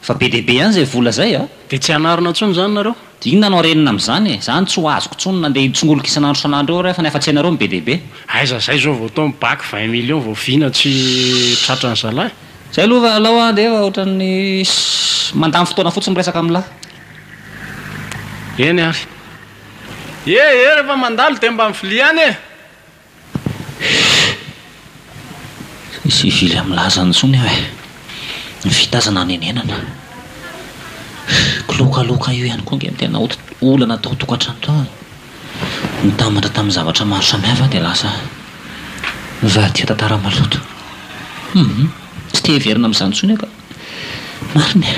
Efa be dia be ihany izay vola izay a! Dia tsy hanarina intsony izany nareo! Inona no harenina amin'izany e? Izany tsy ho azoko intsony nandeha hitsongolika isan'andro isan'andro eo re fa ny hafatsy anareo no be dia be. Aiza izay izao vao tao ny bac vingt millions vao vina tsy tratra ny zalahy. Zay aloha fa alao an de efa ohatran'ny mandany fotoana fotsiny miresaka amin'ny lahy. Eny ary. Ee ee rehefa mandalo dia mba miviliana e! Tsy hivily amin'ny laza intsony aho e! Ny vita aza nanenenana. Kilokaloka io ihany koa ange no tena olana tao an-tokantrano tao e! Nitambatra tamin'ny zavatra maro samihafa aho dia lasa nivadika tantara maloto. Humm, tsy te hiverina amin'izany intsony aho ka! Marina e!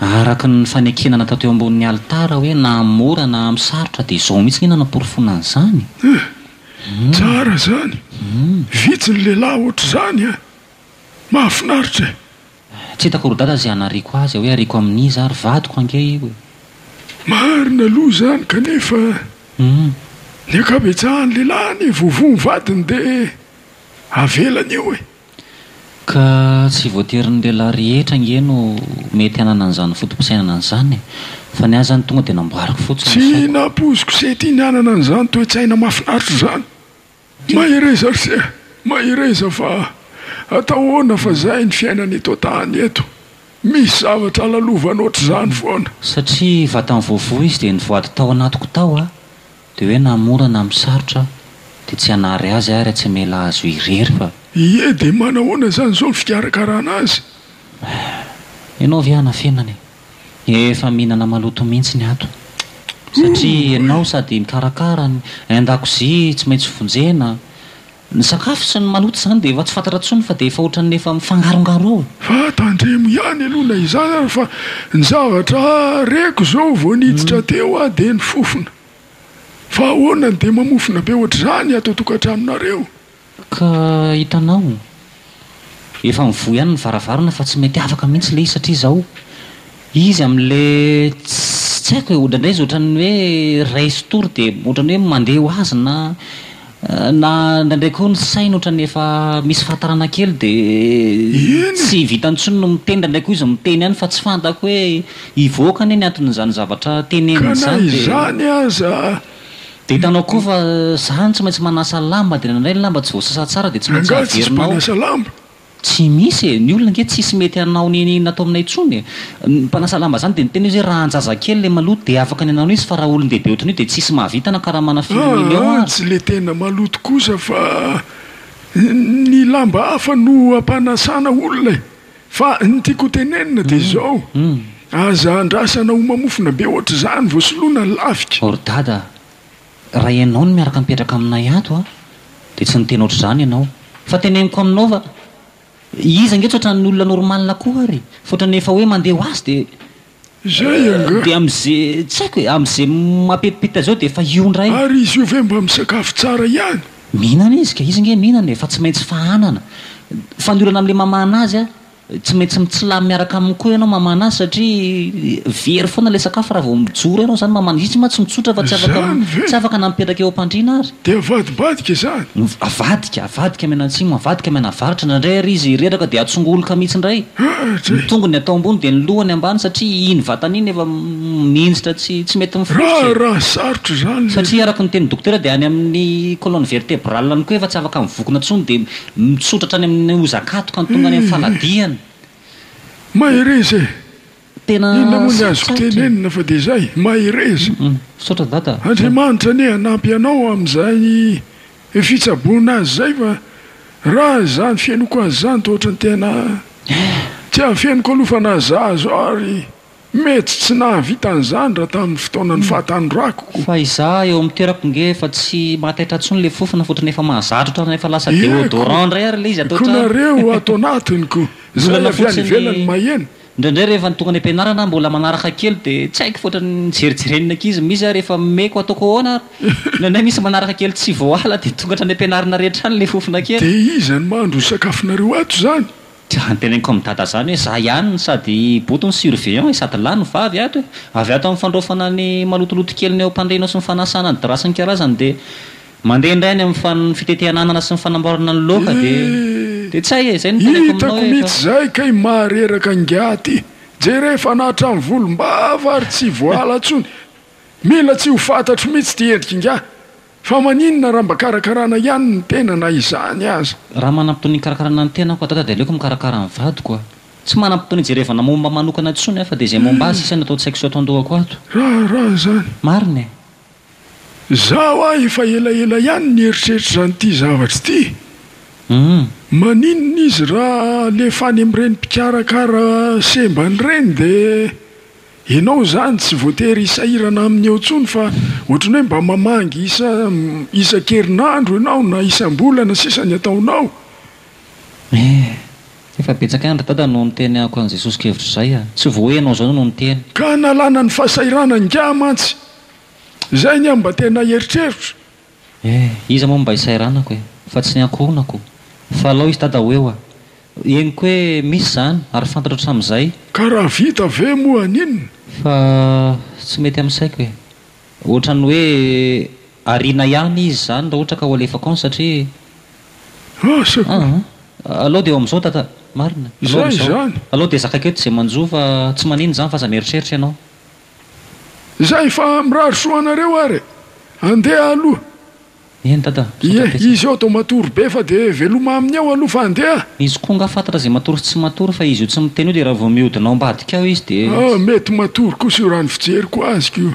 Araka ny fanekena natao teo ambonin'ny alitara hoe naha mora naha misarotra dia izao mihitsy anie nanaporofoana an'izany eh! Tsara izany! Vitsy ny lehilahy ohatr'izany eh! Mahafinaritra eh! Tsy hitako ry dada izay hanariako azy eh! Hoe ariako amin'iza ary? Vadiko ange io eh! Marina aloha izany kanefa ny ankabetsahan'ny lehilahy anie voavoa ny vadiny dia avelany io eh! Ka tsy voatery ny lehilahy rehetra ange no mety hanana an'izany foto-pisainana an'izany e! Fa ny ahy izany tonga dia namboariko fotsiny ny saiko. Tsy nampoiziko se tiany hanana an'izany toe-tsaina mahafinaritra izany! Mahereza ry se a! Mahereza fa atao ahoana fa izay ny fiainana eto an-tany eto! Misy zavatra lalovanao ohatr'izany foana! Satria vatany voavoa izy dia nivoady tao anatiko tao aho. Dia hoe na mora na misarotra dia tsy hanary azy ary tsy hamela azy ho irery fa. Ie dia manahoana izany izao ny fikarakarana azy? Eh! Ianao ve hanafenana e? Efa mihinana maloto mihitsy ny ato. Satria ianao sady mikarakara ny an-dakozia tsy maintsy vonjena. Ny sakafo sy ny maloto izany dia efa tsy fantatra intsony fa dia efa ohatran'ny efa mifangarongaroa. Fa tandremo ihany aloha na izany ary fa ny zavatra reko izao vao niditra teo aho dia ny fofona. Fa ahoana no dia mamofona be ohatr'izany ato an-tokantranonareo? Ka hitanao, Efa mivoha ihany ny varavarana fa tsy mety afaka mihitsy le izy satria izao izy amin'le tsy haiko e, odraindray izy otrany hoe ray sy tory de otrany hoe mandeha ho azy na na indraindray koa ny sainy otrany efa misy fahatarana kely de tsy vitany intsony no miteny, indraindray koa izy miteny ihany fa tsy fantako hoe hivoaka anie ny anton'izany zavatra teneniny izany de. Ka na izany aza Dia hitanao koa fa zah no tsy maintsy manasa lamba dia nandray ny lamba tsy voasasa tsara dia tsy maintsy averinao. Tsy misy e, ny olona ange tsisy mety hanao ny natao aminay intsony e. Ny mpanasa lamba zany dia niteny izy hoe raha an-jazakely ilay maloto dia afaka ny hanao izy fa raha olon-dehibe ohatran'io dia tsisy mahavita na karamana firy millions ary. Tsy ilay tena maloto kosa fa ny lamba hafa no ampanasana olona e. Fa ny tiako ho tenenina dia izao, aza andrasana ho mamofona be ohatr'izany vao soloina ny lafika. Ry Dada a! Raha ianao no miaraka mipetraka aminay ato a! dia tsy niteny ohatr'izany ianao. Fa teneniko aminao fa iza ange tsy ohatran'ny olona normal koa ary! Fa ohatran'ny efa hoe mandeha ho azy dia Zay angaha? Dia amze, tsy haiko e, amze mapetipetitra zao dia efa io ndray. Ary izy io ve mba misakafo tsara ihany? Mihinana izy ka, izy nge mihinana e, fa tsy maintsy fahanana. Fa ny olana amle mamahana azy a, tsy maintsy mitsilany miaraka aminy koa ianao mamahana azy satria very foana le sakafo raha vao mijoro ianao zany mamahana, izy mantsy mitsotra fa tsy afaka, tsy afaka na mipetraka eo ampandriana ary. Dia avadibadika izany? Ny avadika, avadika mianatsimo, avadika mianavaratra, indraindray ary izy reraka dia atsongoloka mihitsy indray. Ny tongony atao ambony dia ny lohany ambany satria iny vatany iny efa mihinjitra tsy tsy mety mifototra e. Raharaha sarotra izany le. Satria araka ny tenin'ny dokotera dia any amin'ny colonne vertebrale any koa efa tsy afaka mivokona intsony dia mitsotra hatrany amin'ny ozakatoka ny tongany amin'ny fanadihany. Mahereza e! Tena Inona moa ny azoko sarotra e. tenenina fa dia izay, mahereza. Hum, misaotra dada. Andriamanitra anie hanampy anao amin'izay fitsaboana azy izay fa raha izany fenoko azy izany dia ohatran'ny tena tsy afeniko aloha fa na za zao ary mety tsy nahavita an'izany raha tamin'ny fotoanan'ny fahatanorako. Fa izaho eo amin'ny toerako nge efa tsy mahataitra intsony ilay fofona fa ohatran'ny efa mahazatra ohatran'ny efa lasa Eko, deodorant indray ary ilay izy atao eko ohatran'ny nareo ato anatiny ko izay Olana avy any fotsiny ivelany maheno. Indraindray rehefa ny toko any am-pianarana mbola manaraka kely dia tsy haiko fa ohatran'ny jerijeren'ny ankizy misy aho rehefa meko ataoko ahoana ary ny anay misy manaraka kely tsy voaala dia tonga hatrany am-pianarana rehetra any ilay fofona kely. Dia iza no mahandro ny sakafonareo ato izany? Dia antenaiko amin'i dada izany hoe za ihany no sady i boto no surveillant e, sady lahy no vavy ato e, avy ato amin'ny fandraofana ny malotoloto kely ny eo am-pandrianao sy ny fanasana ny drap sy ny karazany dia. Mandeha indray any amin'ny fa ny fitetehan'anana sy ny fanamboarana ny loaka dia dia tsy hay e! Izay no teneniko aminao hoe efa. Hitako mihitsy izay kay mahareraka ingahy ty! Jereo fa na hatramin'ny volombava ary tsy voala intsony! Mila tsy ho fantatro mihitsy ity endrika ingahy! Fa maninona raha mba karakarana ihany ny tena na izany aza? Raha manam-potoana hikarakarana ny tenako adada dia aleoko mikarakara ny vadiko aho! Tsy manam-potoana hijerevana momba manokana intsony aho fa dia izay momba azy sisa no ato an-tsaiko sy ato an-dohako ato! Raharaha izany! Marina e! Izaho aho efa elaela ihany nieritreritra izany ity zavatra ity. Maninona izy raha alefa any amin'ireny mpikarakara sembany ireny dia ianao izany tsy voatery hisahirana aminy eo intsony fa ohatran'ny hoe mba mamangy isan-kerinandro ianao na isam-bolana sisa ny ataonao? Efa betsaka andro Dada no niteny amiko an'i Jesosy kevitra izay a! Tsy vao hoe ianao izao no niteny. Ka nalana ny fahasahirana ingahy mantsy. Izay ny ahy mba tena eritreritra. Eh! Iza moa no mba isairanako e! Fa tsy ny ankohonako. Fa alao izy Dada ho eo a! Henoko hoe misy izany ary fantatro hatramin'izay. Ka raha vita ve moa haninona? Fa tsy mety amin'ny saiko e! Ohatran'ny hoe. Ariana ihany izy izany raha ohatra ka ho alefako any satria Asa koa. Aa alou dia eo amin'izao tata Marina. Alou Zay amin'izao. izany. Alou dia zakako eto izay manjo fa tsy manino izany f'aza mieritreritra ianao. Zay fa mirary soa anareo ary e. Andeha aloha. Eny tata. Misaotra Ie, betsaka. izy eo to matory be fa dia veloma aminy eo aloha fa andeha a. Izy koa nga fantatra izay matory sy tsy matory fa izy io tsy miteny io dia raha vao mihodina ao ambadika ao izy dia Ah, mety matory kosa io raha ny fijeriko azy ko.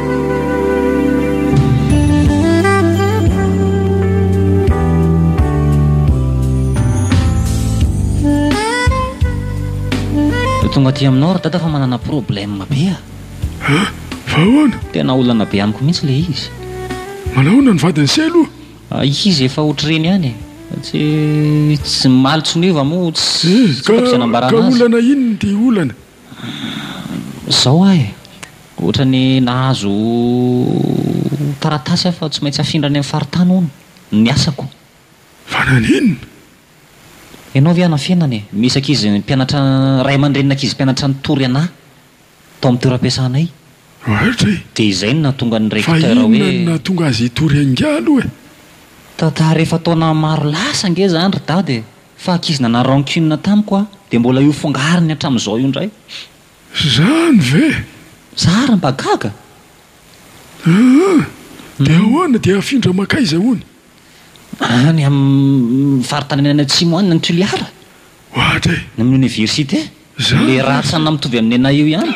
aty aminao ry dada fa manana problème be a ah fa ahoana tena olana be amiko mihitsy le izy manahoana ny vadiny sy aloha ah, izy efa ohatr'ireny ihany e. tsy tsy maly tsy meva moa tsy eh, ka olana inona dia olana Zao aho e! Ohatrany nahazo taratasy aho fa tsy maintsy afindra any amin'ny faritany hono ny asako. Fa naninona? Ianao ve hanafenana e? Misy ankizy mpianatra, ray aman-drenin'ny ankizy mpianatra nitory anà tao amin'ny toeram-piasanay. Raotra e! Dia izay no nahatonga ny recteur hoe. Fa inona no nahatonga azy hitory angaha aloha e? Taha-taha rehefa taona maro lasa ange izany ry dada e! Fa ankizy nanary rancune tamiko aho dia mbola io fongariny hatramin'izao io indray. Zany ve? Za ary mba gaga. Aa! Dia ahoana dia hafindra mankaiza hono? Any amin'ny faritany any atsimo any ny Tuliara. Ohatra e! Ny amin'ny Université. Zany ve? Ilay rantsana mitovy amin'ny anay io ihany.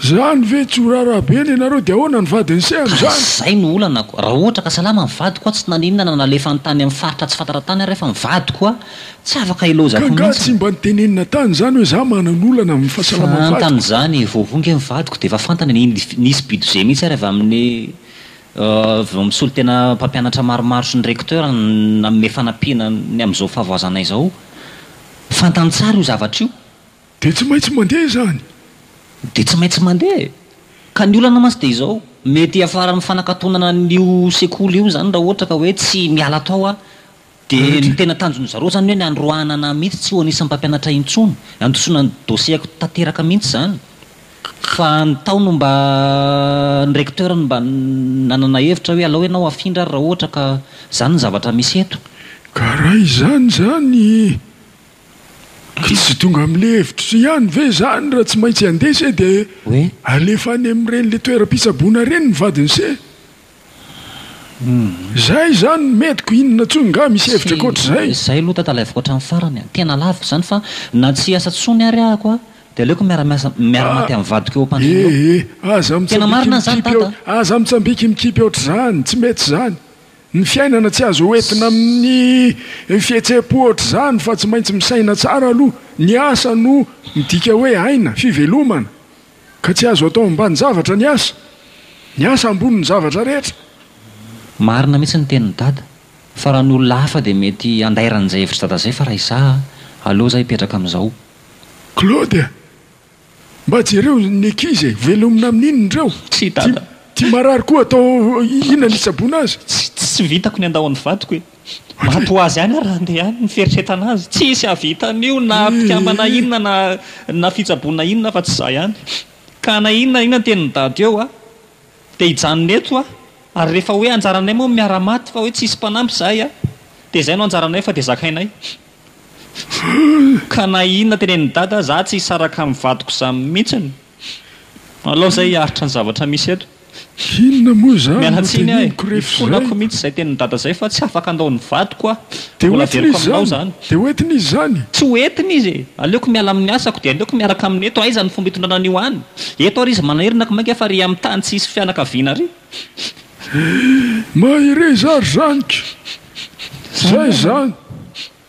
Zany ve tsy ho raharaha be ny anareo dia ahoana ny vadin'i Seha amin'izany? Ka izay no olanako, raha ohatra ka salama ny vadiko aho tsy naninona na nalefany tany amin'ny faritra tsy fantatra tany ary fa ny vadiko aho tsy afaka hilaozako mihitsy. Ka angaha tsy mba nitenenina tany izany hoe za manana olana amin'ny fahasalaman'ny vadiko? Fantany izany, vao vongy anie ny vadiko dia efa fantany ny nisy budget mihitsy ary avy amin'ny avy amin'ny solontena mpampianatra maromaro sy ny recteur nanome fanampiana ny amin'izao fahavoazanay izao. Fantany tsara io zavatra io. Dia tsy maintsy mandeha izany. Dia tsy maintsy mandeha e! Ka ny olana mantsy dia izao, mety hiafara amin'ny fanakatonana an'io sekoly io izany raha ohatra ka hoe tsy miala ato aho aho. Dia ny tena tanjon'ny zareo izany hoe ny handroahana anah mihitsy tsy ho anisan'ny mpampianatra intsony. Handosona ny dossier-ko tanteraka mihitsy izany. Fa ny tao no mba, ny recteur no mba nanana hevitra hoe alao ianao afindra ary raha ohatra ka izany ny zavatra misy eto. Ka raha izany izany, ka tsy tonga amin'ilay hevitra ihany ve izany raha tsy maintsy handeha se dia alefa any amin'ireny ilay toeram-pitsaboana ireny ny vadin'i se? Zay izany ny metiko, inona tsony nga misy hevitra ankoatra zay? Zay aloha Dada alaivo katram farany a! Tena lavo zany fa na tsy hiasa tsony ary ahako a de aleoko miara miasa miara maty am vadiko eo ampandriana eo! Ee aza Tena mitsambiki marina zany mikipy Dada! aza mitsambiki mikipy ohatr'izany, tsy mety zany! Ny fiainana tsy azo hoentina amin'ny fihetsem-po ohatr'izany fa tsy maintsy misaina tsara aloha, ny asa no midika hoe aina, fivelomana! Ka tsy azo atao ambanin-javatra ny asa. Ny asa ambonin'ny zavatra rehetra. Marina mihitsy ny tenin'i dada, fa raha ny olona hafa dia mety handairan' izay hevitr'i dada izay fa raha izaho a, aleo izaho hipetraka amin'izao. Claude a! Mba jereo ny ankizy e! Velomina amin'inona ireo? Tsia dada. Ity marary koa atao inona ny hitsaboana azy? Tsy vitako ny handao an'ny vadiko e! Maty ho azy ihany ary raha handeha any ny fieritreretana azy. Tsy hisy hahavita an'io na mpikambana inona na na fitsaboana inona afa-tsy izaho ihany. Ka na inona na inona ny tenin'i Dada eo aho dia hijanona eto aho. Ary rehefa hoe anjaranay moa ny miara-maty fa hoe tsy hisy mpanampy izahay a! dia izay no anjaranay fa dia zakainay. Ka na inona tenenin'i Dada, izaho tsy hisaraka amin'ny vadiko izany mihitsy. Alao izay hiaritra ny zavatra misy eto. Inona moa izany no teneniko rehefa izay? Ifonako mihitsy izay tenin'i Dada izay fa tsy afaka handao ny vadiko aho. Mbola averiko aminao izany. Dia ho entiny izy izany? Tsy ho entiny izy e! Aleoko miala amin'ny asako dia aleoko miaraka aminy eto. Aiza ny fomba hitondrana an'io any? Eto ary izy manahery na komainka fa ary amin'ny tany tsy hisy fianakaviana ary. Mahereza ary zaniko! Izay izany!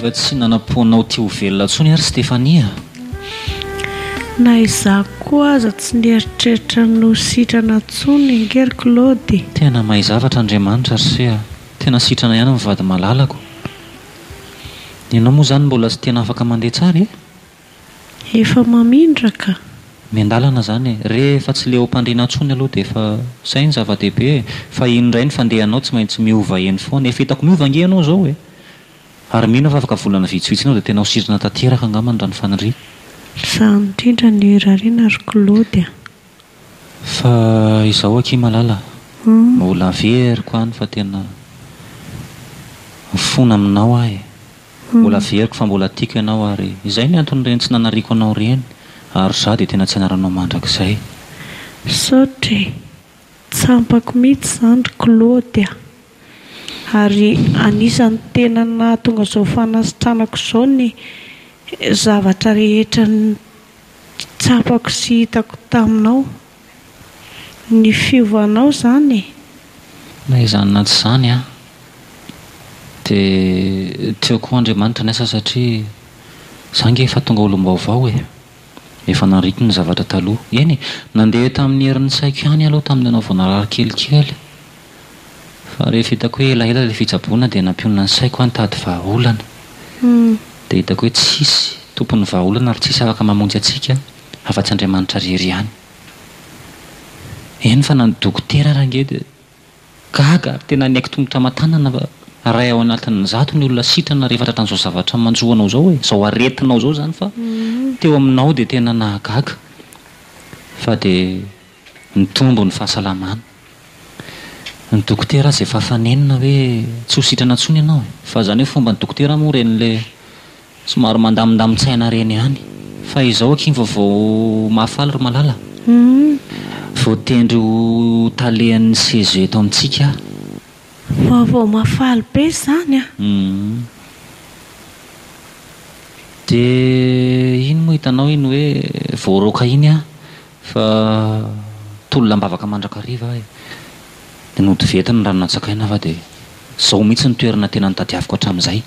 efa tsy nanam-poanao tia ho velona intsony ary Stéphanie a. Na izaho koa aza tsy nieritreritra ny ho sitrana intsony ange ry Claude. Tena mahay zavatra Andriamanitra ry se a. Tena sitrana ihany ny vady malalako. Ianao moa izany mbola tsy tena afaka mandeha tsara e. Efa mamindraka. Miandalana zany e! Re efa tsy leo mpandrina tsony aloha de efa zay ny zava dehibe e! Fa iny ndray ny fandehanao tsy maintsy miova eny foana, efa hitako miova ange ianao zao e! Ary mino aho fa afaka volana vitsivitsy enao de tena ho sirina tanteraka angambany raha ny faniriako. Misaha indrindra ny rarina ry Claude a! Fa izao akia malala mbola averiko any fa tena mifona aminao aho e! Mbola averiko fa mbola tiako ianao ary izay ny anton'ireny tsy nanariako anao ireny ary izaho dia tena tsy hanaranao mandrakizay. Misaotra e! Tsy ampako mihitsy izany ry Claude a! Ary anisan'ny tena nahatonga izao fanasitranako izao ny zavatra rehetra Tsapako sy hitako taminao. Ny fiovanao izany e. Na izany na tsy izany an. Dia tsy eo koa Andriamanitra ny asa satria za nge efa tonga olom-baovao e. Efa nariko ny zavatra taloha. Eny e, nandeha tamin'ny herin'ny saiko ihany aloha tamin'ianao vao narary kelikely. Fa rehefa hitako hoe elaela ilay fitsaboana dia nampionona ny saiko aho nitady vahaolana. Dia hitako hoe tsisy tompon'ny vahaolana ary tsisy afaka mamonjy antsika afa-tsy Andriamanitra irery ihany. Eny fa na ny dokotera ary ange dia gaga ary tena niaiky tongotra aman-tanana fa iray ao anatin'ny zato ny olona sitrana rehefa tratran'izao zavatra manjo anao izao e, izao aretinao izao izany fa teo aminao dia tena nahagaga fa dia nitombo ny fahasalamana. Ny dokotera aza efa fanenina hoe tsy ho sitrana intsony ianao e! Fa izany hoe fomban'ny dokotera moa ireny ilay somary mandamindamin-tsaina ireny ihany. Fa izao akia vao vao mafy faly ry Malala a! Voatendry ho talehan'ny CESE eto amintsika aho. Vao vao mafy faly be izany a! Dia iny moa hitanao iny hoe voaroaka iny aho. Fa tolona am-bavaka mandrakariva aho e! Dia nody venty ny rano nantsakaina aho fa dia izao mihitsy ny toerana tena nitadiaviko hatramin'izay.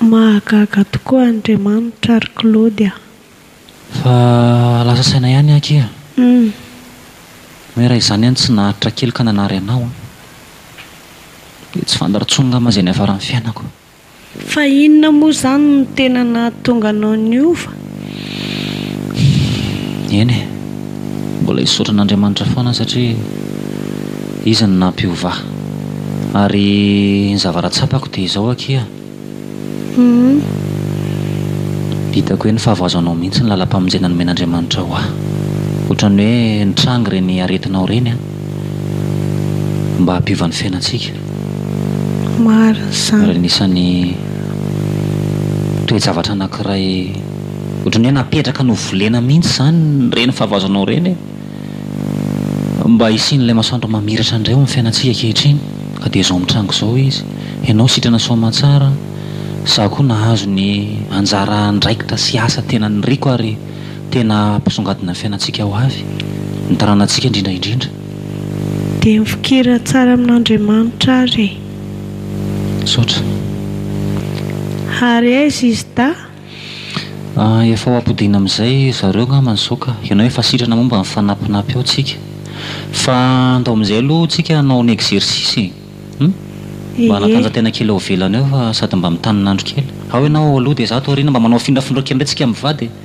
Mahagaga tokoa Andriamanitra ry Claude a! Fa lasa saina ihany aho akia! Hoe raha izany any tsy naharitra kely ka nanary anao an! Dia tsy fantaro intsony ngamba izay niafaran'ny fiainako. Fa inona moa izany no tena nahatonga anao niova? Eny e, mbola hisaotra an'Andriamanitra foana satria Izy no nampiovà. Ary ny zavatra tsapako dia izao akia. Hitako hoe nifahavoazanao mihitsy ny lalam-pamonjena nomen'Andriamanitra ho ahy. Ohatran'ny hoe nitrangy ireny aretinao ireny aho. mba hampiova ny fiainantsika. Marina izany. Ary anisan'ny toe-javatra anankiray ohatran'ny hoe napetraka novolena mihitsy izany ireny fahavaozanao ireny e! Mba hisian'ilay masoandro mamiratra indray ao amin'ny fiainantsika ankehitriny ka dia izao mitranga izao izy. Ianao sitrana soamantsara an! Izaho koa nahazo ny anjara andraikitra sy asa tena niriko ary. Tena mpisongadina ny fiainantsika ho avy, ny taranantsika indrindra indrindra. Dia mifikira tsara amin'Andriamanitra ary e. Misaotra. Ary aiza izy dahy? Ah, efa ho ampodiana amin'izay zareo angamba ny zoka. Ianao efa sitrana momba ny fanampinapy ao tsika. Fa andao amin'izay aloha tsika hanao ny exercice e. Hum? Mba hanatanja tena kely ao ivelany ao fa sady mba mitanin'andro kely. Ao ianao ao aloha dia izaho ato aoriana mba manao afindrafindra kely indray tsika mivady e.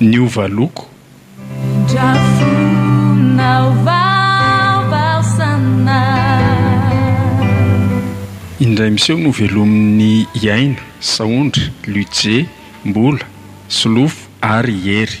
Niova loko. Indray miseho novelomin'ny i Aina, Saondra, Luce, Mbola, Solofo ary i Hery.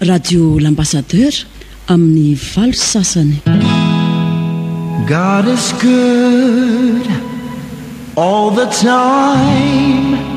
Radio L'Ambassadeur amin'ny valo sy sasany. God is good all the time.